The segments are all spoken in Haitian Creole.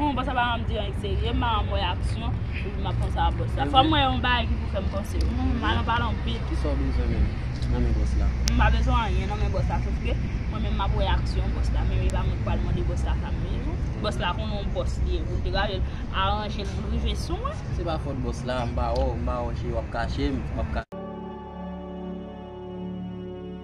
Hum boss la pa janm di anyn serye, m an wè aksyon epi map panse a boss la. Fòm wè yon bagay ki pou fèm panse. Hum al anpale anpil. Kisa w bezwen menm nan men boss la? M pa bezwen anyen nan men boss la sof ke mwen menm map wè aksyon boss la men e pa mwen ki pral mande boss la sa m vle non. Boss la konnen yon boss li ye pou l te gade l aranje l pou l rive sou mwen. Se pa fòt boss la, m pa wè w, m pa wè w cheri wap kache m.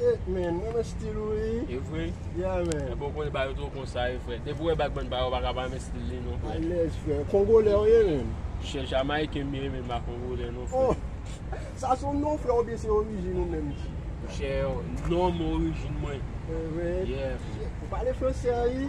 Eeh man, mwen renmen stil ou wi. E vre? Yeah man. Epa ou konnen bayo two konsa wi frè. Depi ou wè bagman bayo ou paka pa renmen stil li non frè. Alèz frè. Kongolè ou ye menm? Chè Jamayiken m ye men m pa kongolè non frè. Oh! Sa son non frè oubyen se orijin ou menm ki? Chè, nom orijin mwen. E vre? Yeah frè. Ou pale fransè wi.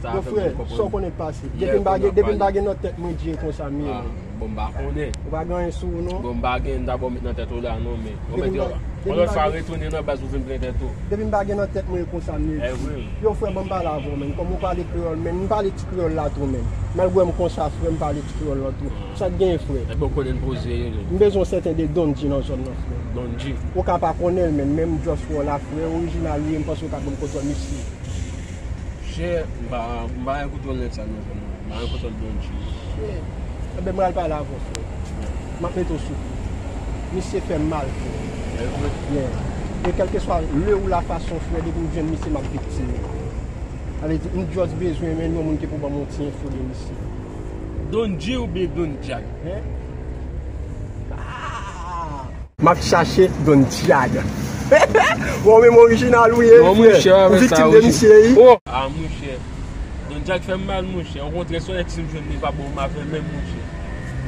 Mon frè, sa w konnen k pase? Depi m pa gen, depi m pa gen nan tèt mwen dye konsa m ye menm. Bon m pa konnen. Ou pa gen anyen sou ou non? Bon m pa gen, m ta ba w met nan tèt ou la non men. Bon men di w, yon lòt fwa retounen nan baz pou vin plen tèt ou. Depi m pa gen nan tèt mwen e konsa m ye di. Evre m. Yo frè ban m pale avè w menn. Kòm ou pale kreyòl menn, m pale ti kreyòl la tou menn. Malgre m konsa frè, m pale ti kreyòl la tou. Sa k genyen frè? Ebyen ou konnen poze yo menn. M bezwen yon sèten de Don G nan zòn nan frè. Don G? Ou ka pa konnen l menn, men m just wè w la frè. Orijinal ou ye, m panse ou ka ban m kontwòl misye. Chè m pa m pa renmen koton lèt sa non frè m m renmen koton Dolce. Chè enben m pral pale avè w frè m ap mete w sou kou misye fè m mal frè e kèlkeswa le ou lafason frè depi m jwenn misye m ap viktim li sa vle di m just bezwen men yon moun ki pou ban m yon ti enfo de misye. Don G oubyen Don Jack? Aah! Map chache Don Diag. Bon menm orijinal ou ye wi frè. Ou viktim de misye wi. Ah monchè. Don Diag fèm mal monchè. Okontrè son ex m jwenn li pa bon m avèl menm monchè.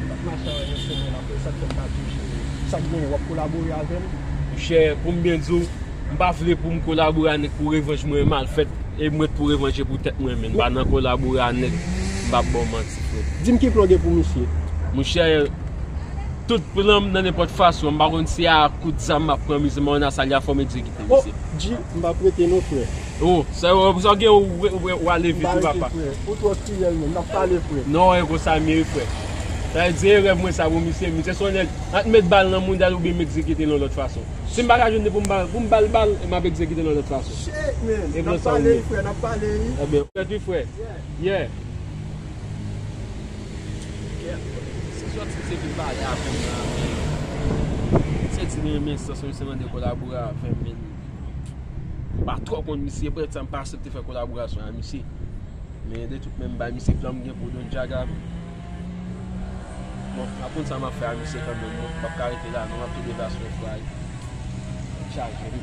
Map mache avèl yon semèn aprè sak fèm pa diw cheri. Sak genyen wap kolabore avèm? Monchè poum byen diw m pa vle poum kolabore a nèg pou revanj mwen mal fèt e m ret pou revanje pou tèt mwen menm pa nan kolabore a nèg m pap baw manti frè. Dim ki plan gen pou misye. Monchè. Tout plan m nan nenpòt fason, m pa konn si a kout zam m ap pran mize men on a sa li a fò m egzekite li se. Oh Dji, m pa prete non frè. Oh, sa yo, sa w gen yo ou ale vit wi papa. M pa rete frè, ou twò tirèl menm, n ap pale frè. Non e konsa m ye frè. Sa vle di e rèv mwen sa pou misye, misye son nèg, an t met bal nan moudal oubyen m egzekite l yon lòt fason. Si m pa ka jwenn ni pou m pou m ba l bal e m ap egzekite l yon lòt fason. Shit man, n ap pale wi frè, n ap pale wi. Ebyen, frèt wi frè. Yeah. Se sòt si se vin pale avèm la men misye di li renmen sans mwen misye mande kolabore avèm men mpa twò konn misye eprèt sa mpa asepte fè kolaborasyon a misye men de tout men mbay misye plan mgen pou Don Jaga bon map konn sa map fè a misye kanmenm non mpap ka rete la non map tou devasyon fwa yo chaje wi.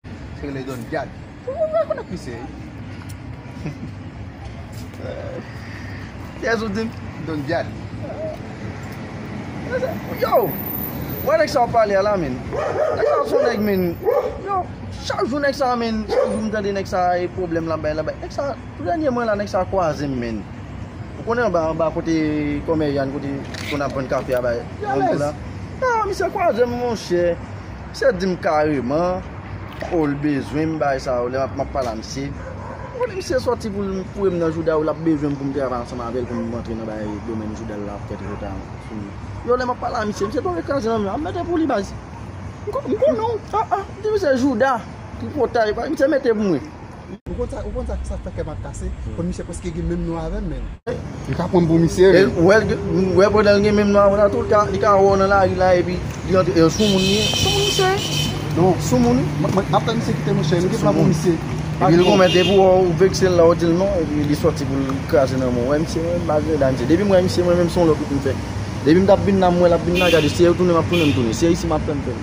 Se rele don gad. Ou pa vle konnen ki se li. Kiyes ou dim? Don gad. Yo! Wè nèg sa wap pale a la min. Nèg sa son nèg min. Yo! Chak jou nèg sa min. Chak jou m tande nèg sa e pwoblèm lap bay lap bay. Nèg sa tou dènye mwen la nèg sa kwaze m min. Ou konnen anba anba kote kòmè Yann kote konn ap vann kafe a bay. Yo alèz. Yo! Misye kwaze m monchè. Misye dim kareman oh l bezwenm bay sa yo lè map map pale a misye ou konnen misye sòti pou l foure m nan jouda yo lap bezwen m pou m travay ansanm avèl pou m rantre nan bagay domèn jouda l la ap fè treta sou li yo lè map pale a misye misye tonbe kraze nan men an mete pou li baz m konnen w ah ah m di misye jouda tripotay misye mete pou mwen. Ou konn sa ou konn sa sak fè kèm ap kase kon misye preske gen menm non avèm menn. Li ka pranm pou misye menn. Ou wèl ou wè pandanl gen menm non avèw nan tou li ka li ka wèw nan lari la epi li antre e soumoun li ye soumoun misye ye. Non soumoun mwen ap fè misye kite mwen cheri mwen gen plan pou misye. Epi li konn depi wèw ou veksel la ou dil non epi li sòti poul kraze nan menw ou wè misye mwen menm pa gen reda misye depim wè misye mwen menm son lòt wout mfè depim tap vin la m wèl ap vin la gade si ew tounen map tounen m tounen si e isi map fèm fèl.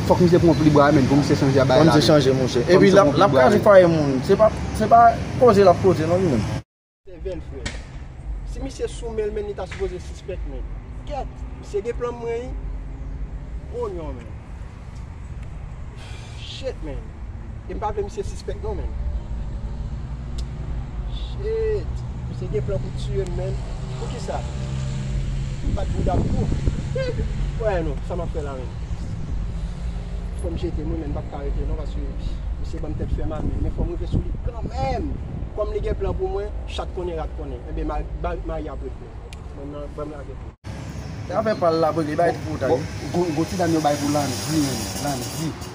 Fòk misye pran pli bwa menn pou misye chanje abaya la. Fòk misye chanje mouche. Epi lap kraze fwaye moun. Se pa koze lap koze non li menm. Se vèn frè. Si misye sou menl menn li ta sipoze sispèk menn. Kèt. Misye gen plan mwen wi. Oh non menn. Shit menn. E m pa vle misye sispèk non menn. Shit! Misye gen plan pou tiye m menn. Poukisa? M bat bouda m tou. Ou wè non, sa m ap fè la menm? Fò m jete m wi menn, m pap ka rete non paske misye ban m tèt fè mal menn. Men fò m rive sou li kanmenm! Kòm li gen plan pou mwen, chat konnen rat konnen. Enben Mari ap ret menm. Menm nan, ban m lage pou. Afè pa l la pou li bay ti poutay. Bon ti dam yo bay pou Landy menn. Landy.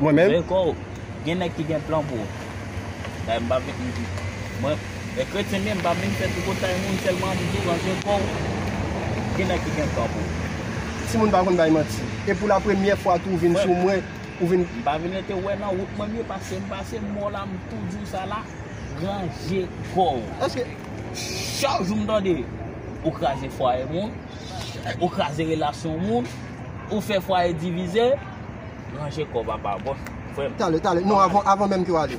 Mwen menm. Meko, gen nèg ki gen plan pou ou. Dayè m pa vin m di. Mwen, e kretyen m ye, m pa vin fè tripotay moun, sèlman m di w ranje kò w, gen nèg ki gen plan pou ou. Timoun pa konn bay manti. E pou la premyè fwa tou ou vin sou mwen, ou vin. M pa vin rete wè nan wout mwen m ye, pase m pase m mò la, m tou di w sa la, ranje kò w. Eske. Chak jou m tande, ou kraze fwaye moun, ou kraze relasyon moun, ou fè fwaye divize. Ranje kòw papa bon frèm. Tale tale non avan menm kew ale.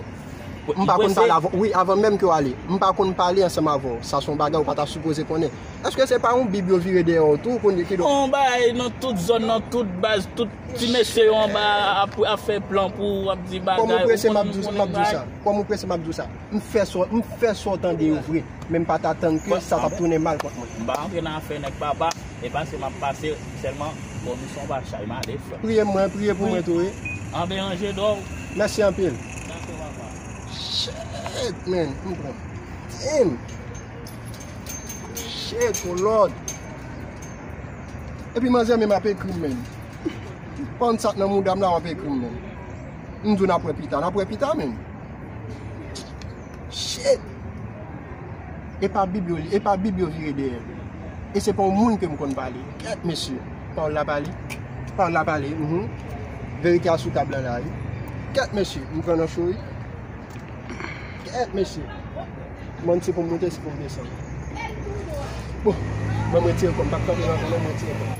M pa konn pale avèw wi avan menm kew ale. M pa konn pale ansanm avèw sa son bagay ou pa ta sipoze konnen. Eske se pa yon bib yo vire dèyè w tou kounye kidonk. Yon bagay nan tout zòn nan tout baz tout ti mesye yo anba ap fè plan pou ou ap di bagay ou konn m konnen bagay. Kòm ou prese map diw sa. M fè sa w tande yo vre. men m pa t atann ke sa t ap tounen mal kont mwen. M pa antre nan afè nèg papa, e pase m ap pase sèlman bon nou son pa chay male frè m. Priye mwen, priye pou mwen tou wi. An be an je dò w. Mèsi anpil. Dako papa. Shit man, m pran damn. Shit oh lord. Epi manzè menm ap ekri m menm. Pon sa k nan mouda m la w ap ekri m menm. M di w n ap wè pita, n ap wè pita menm. Shit! E pa bib yo li, e pa bib yo vire dèyè. E se pa yon moun ke m konn pale. Kèt mesye! Pawòl la pale. Pawòl la pale, uhmm. Verite a sou tab lan la wi. Kèt mesye! M pran nan cho wi. Kèt mesye! M'en se pou m moute, se pou m desann. Bon, ban m retire kò m. M pa k kanpe nan kò m, ban m retire kò m.